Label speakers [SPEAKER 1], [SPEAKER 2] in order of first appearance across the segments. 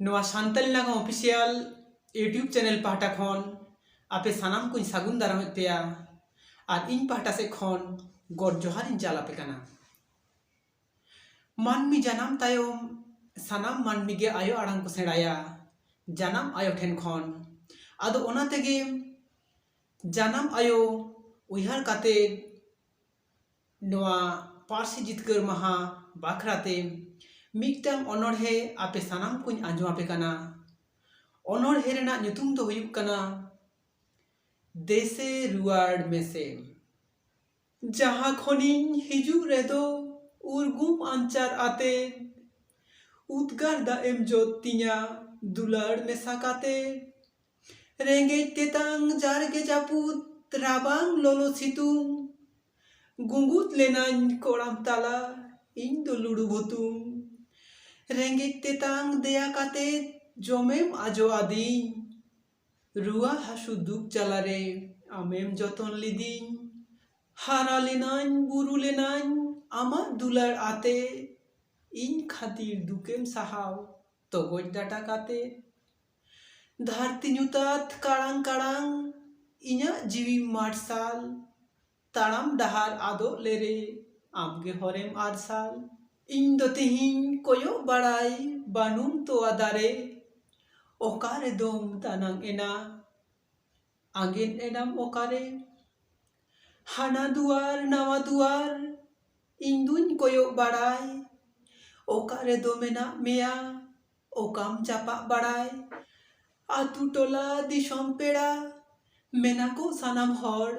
[SPEAKER 1] ᱱᱚᱣᱟ ᱥᱟᱱᱛᱟᱞᱤ ᱱᱟᱜᱟᱢ official YouTube channel ᱯᱟᱦᱴᱟ ᱠᱷᱚᱱ ᱟᱯᱮ ᱥᱟᱱᱟᱢ ᱠᱚᱧ ᱥᱟᱹᱜᱩᱱ ᱫᱟᱨᱟᱢᱮᱫ ᱯᱮᱭᱟ ᱟᱨ ᱤᱧ ᱯᱟᱦᱴᱟ ᱥᱮᱫ ᱠᱷᱚᱱ ᱜᱚᱰ ᱡᱚᱦᱟᱨ ᱤᱧ ᱪᱟᱞ ᱟᱯᱮ ᱠᱟᱱᱟ ᱢᱟᱹᱱᱢᱤ ᱡᱟᱱᱟᱢ ᱛᱟᱭᱚᱢ ᱥᱟᱱᱟᱢ ᱢᱟᱹᱱᱢᱤ ᱜᱮ ᱟᱭᱳ ᱟᱲᱟᱝ ᱠᱚ ᱥᱮᱬᱟᱭᱟ ᱡᱟᱱᱟᱢ ᱟᱭᱳ ᱴᱷᱮᱱ ᱠᱷᱚᱱ ᱟᱫᱚ ᱚᱱᱟ ᱛᱮᱜᱮ ᱡᱟᱱᱟᱢ ᱟᱭᱳ ᱩᱭᱦᱟᱹᱨ ᱠᱟᱛᱮ ᱱᱚᱣᱟ ᱯᱟᱹᱨᱥᱤ ᱡᱤᱛᱠᱟᱹᱨ ᱢᱟᱦᱟ ᱵᱟᱠᱷᱨᱟ ᱛᱮ ᱢᱤᱫᱴᱟᱝ ᱚᱱᱚᱬᱦᱮ ᱟᱯᱮ ᱥᱟᱱᱟᱢ ᱠᱚᱧ ᱟᱸᱡᱚᱢ ᱟᱯᱮ ᱠᱟᱱᱟ ᱚᱱᱚᱬᱦᱮ ᱨᱮᱱᱟᱜ ᱧᱩᱛᱩᱢ ᱫᱚ ᱦᱩᱭᱩᱜ ᱠᱟᱱᱟ ᱫᱮᱥᱮ ᱨᱩᱣᱟᱹᱲ ᱢᱮᱥᱮ ᱡᱟᱦᱟᱸ ᱠᱷᱚᱱᱤᱧ ᱦᱤᱡᱩᱜ ᱨᱮᱫᱚ ᱩᱨᱜᱩᱢ ᱟᱧᱪᱟᱨ ᱟᱛᱮ ᱩᱫᱽᱜᱟᱨ ᱫᱟᱜ ᱮᱢ ᱡᱚᱫ ᱛᱤᱧᱟ ᱫᱩᱞᱟᱹᱲ ᱢᱮᱥᱟ ᱠᱟᱛᱮ ᱨᱮᱸᱜᱮᱡ ᱛᱮᱛᱟᱝ ᱡᱟᱨᱜᱮ ᱡᱟᱹᱯᱩᱫ ᱨᱟᱵᱟᱝ ᱞᱚᱞᱚ ᱥᱤᱛᱩᱝ ᱜᱩᱸᱜᱩᱫ ᱞᱮᱱᱟᱹᱧ ᱠᱚᱲᱟᱢ ᱛᱟᱞᱟ ᱤᱧ ᱫᱚ ᱞᱩᱲᱩ ᱵᱷᱩᱛᱩᱢ ᱨᱮᱸᱜᱮᱡ ᱛᱮᱛᱟᱝ ᱫᱮᱭᱟ ᱠᱟᱛᱮ ᱡᱚᱢᱮᱢ ᱟᱡᱚ ᱟᱫᱤᱧ ᱨᱩᱣᱟᱹ ᱦᱟᱹᱥᱩ ᱫᱩᱠ ᱡᱟᱞᱟ ᱨᱮ ᱟᱢᱮᱢ ᱡᱚᱛᱚᱱ ᱞᱤᱫᱤᱧ ᱦᱟᱨᱟ ᱞᱮᱱᱟᱹᱧ ᱵᱩᱨᱩ ᱞᱮᱱᱟᱹᱧ ᱟᱢᱟᱜ ᱫᱩᱞᱟᱹᱲ ᱟᱛᱮ ᱤᱧ ᱠᱷᱟᱹᱛᱤᱨ ᱫᱩᱠᱮᱢ ᱥᱟᱦᱟᱣ ᱛᱚᱜᱚᱡ ᱰᱟᱴᱟ ᱠᱟᱛᱮ ᱫᱷᱟᱹᱨᱛᱤ ᱧᱩᱛᱟᱹᱛ ᱠᱟᱲᱟᱝ ᱠᱟᱲᱟᱝ ᱤᱧᱟᱹᱜ ᱡᱤᱣᱤ ᱢᱟᱨᱥᱟᱞ ᱛᱟᱲᱟᱢ ᱰᱟᱦᱟᱨ ᱟᱫᱚᱜ ᱞᱮᱨᱮ ᱟᱢ ᱜᱮ ᱦᱚᱨᱮᱢ ᱟᱨᱥᱟᱞ ᱤᱧ ᱫᱚ ᱛᱮᱦᱮᱧ ᱠᱚᱭᱚᱜ ᱵᱟᱲᱟᱭ ᱵᱟᱹᱱᱩᱢ ᱛᱚᱣᱟ ᱫᱟᱨᱮ ᱚᱠᱟ ᱨᱮᱫᱚᱢ ᱫᱟᱱᱟᱝ ᱮᱱᱟ ᱟᱸᱜᱮᱱ ᱮᱱᱟᱢ ᱚᱠᱟ ᱨᱮ ᱦᱟᱱᱟ ᱫᱩᱣᱟᱨ ᱱᱟᱣᱟ ᱫᱩᱣᱟᱨ ᱤᱧ ᱫᱩᱧ ᱠᱚᱭᱚᱜ ᱵᱟᱲᱟᱭ ᱚᱠᱟ ᱨᱮᱫᱚ ᱢᱮᱱᱟᱜ ᱢᱮᱭᱟ ᱚᱠᱟᱢ ᱪᱟᱯᱟᱜ ᱵᱟᱲᱟᱭ ᱟᱹᱛᱩ ᱴᱚᱞᱟ ᱫᱤᱥᱚᱢ ᱯᱮᱲᱟ ᱢᱮᱱᱟᱠᱚ ᱥᱟᱱᱟᱢ ᱦᱚᱲ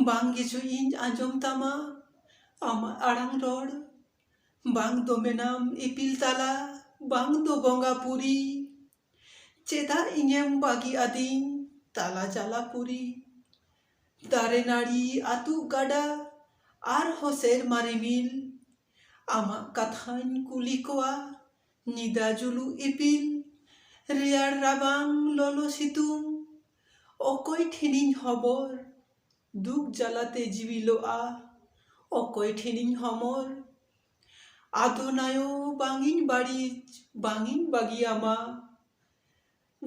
[SPEAKER 1] ᱵᱟᱝ ᱜᱮᱪᱚ ᱤᱧ ᱟᱸᱡᱚᱢ ᱛᱟᱢᱟ ᱟᱢᱟᱜ ᱟᱲᱟᱝ ᱨᱚᱲ ᱵᱟᱝ ᱫᱚ ᱢᱮᱱᱟᱢ ᱤᱯᱤᱞ ᱛᱟᱞᱟ ᱵᱟᱝ ᱫᱚ ᱵᱚᱸᱜᱟ ᱯᱩᱨᱤ ᱪᱮᱫᱟᱜ ᱤᱧᱮᱢ ᱵᱟᱹᱜᱤ ᱟᱹᱫᱤᱧ ᱛᱟᱞᱟ ᱡᱟᱞᱟ ᱯᱩᱨᱤ ᱫᱟᱨᱮ ᱱᱟᱹᱲᱤ ᱟᱹᱛᱩᱜ ᱜᱟᱰᱟ ᱟᱨᱦᱚᱸ ᱥᱮᱨᱢᱟ ᱨᱤᱢᱤᱞ ᱟᱢᱟᱜ ᱠᱟᱛᱷᱟᱧ ᱠᱩᱞᱤ ᱠᱚᱣᱟ ᱧᱤᱫᱟ ᱡᱩᱞᱩᱜ ᱤᱯᱤᱞ ᱨᱮᱭᱟᱲ ᱨᱟᱵᱟᱝ ᱞᱚᱞᱚ ᱥᱤᱛᱩᱝ ᱚᱠᱚᱭ ᱴᱷᱮᱱᱤᱧ ᱦᱚᱵᱚᱨ ᱫᱩᱠ ᱡᱟᱞᱟ ᱛᱮ ᱡᱤᱣᱤ ᱞᱚᱜᱼᱟ ᱚᱠᱚᱭ ᱴᱷᱮᱱᱤᱧ ᱦᱚᱢᱚᱨ ᱟᱫᱚ ᱱᱟᱭᱚ ᱵᱟᱝ ᱤᱧ ᱵᱟᱹᱲᱤᱡ ᱵᱟᱝ ᱤᱧ ᱵᱟᱹᱜᱤᱭᱟᱢᱟ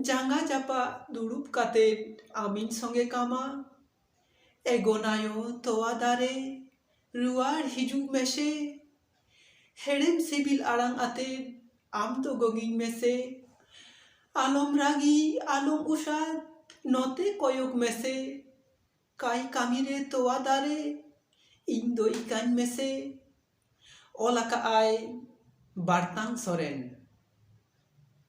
[SPEAKER 1] ᱡᱟᱸᱜᱟ ᱡᱟᱯᱟᱜ ᱫᱩᱲᱩᱵ ᱠᱟᱛᱮ ᱟᱢᱤᱧ ᱥᱚᱸᱜᱮ ᱠᱟᱢᱟ᱾ ᱮ ᱜᱚᱱᱟᱭᱳ ᱛᱚᱣᱟ ᱫᱟᱨᱮ ᱨᱩᱣᱟᱲ ᱦᱤᱡᱩᱜ ᱢᱮᱥᱮ᱾ ᱦᱮᱲᱮᱢ ᱥᱤᱵᱤᱞ ᱟᱲᱟᱝ ᱟᱛᱮ ᱟᱢ ᱫᱚ ᱜᱚᱝᱤᱧ ᱢᱮᱥᱮ᱾ ᱟᱞᱚᱢ ᱨᱟᱹᱜᱤ ᱟᱞᱚᱢ ᱩᱥᱟᱫᱽ ᱱᱚᱛᱮ ᱠᱚᱭᱚᱜᱽ ᱢᱮᱥᱮ᱾ ᱠᱟᱭ ᱠᱟᱹᱢᱤ ᱨᱮ ᱛᱚᱣᱟ ᱫᱟᱨᱮ ᱤᱧ ᱫᱚ ᱤᱠᱟᱹᱧ ᱢᱮᱥᱮ᱾ ᱚᱞ ᱟᱠᱟᱫ ᱟᱭ ᱵᱟᱨᱛᱟᱝ ᱥᱚᱨᱮᱱ᱾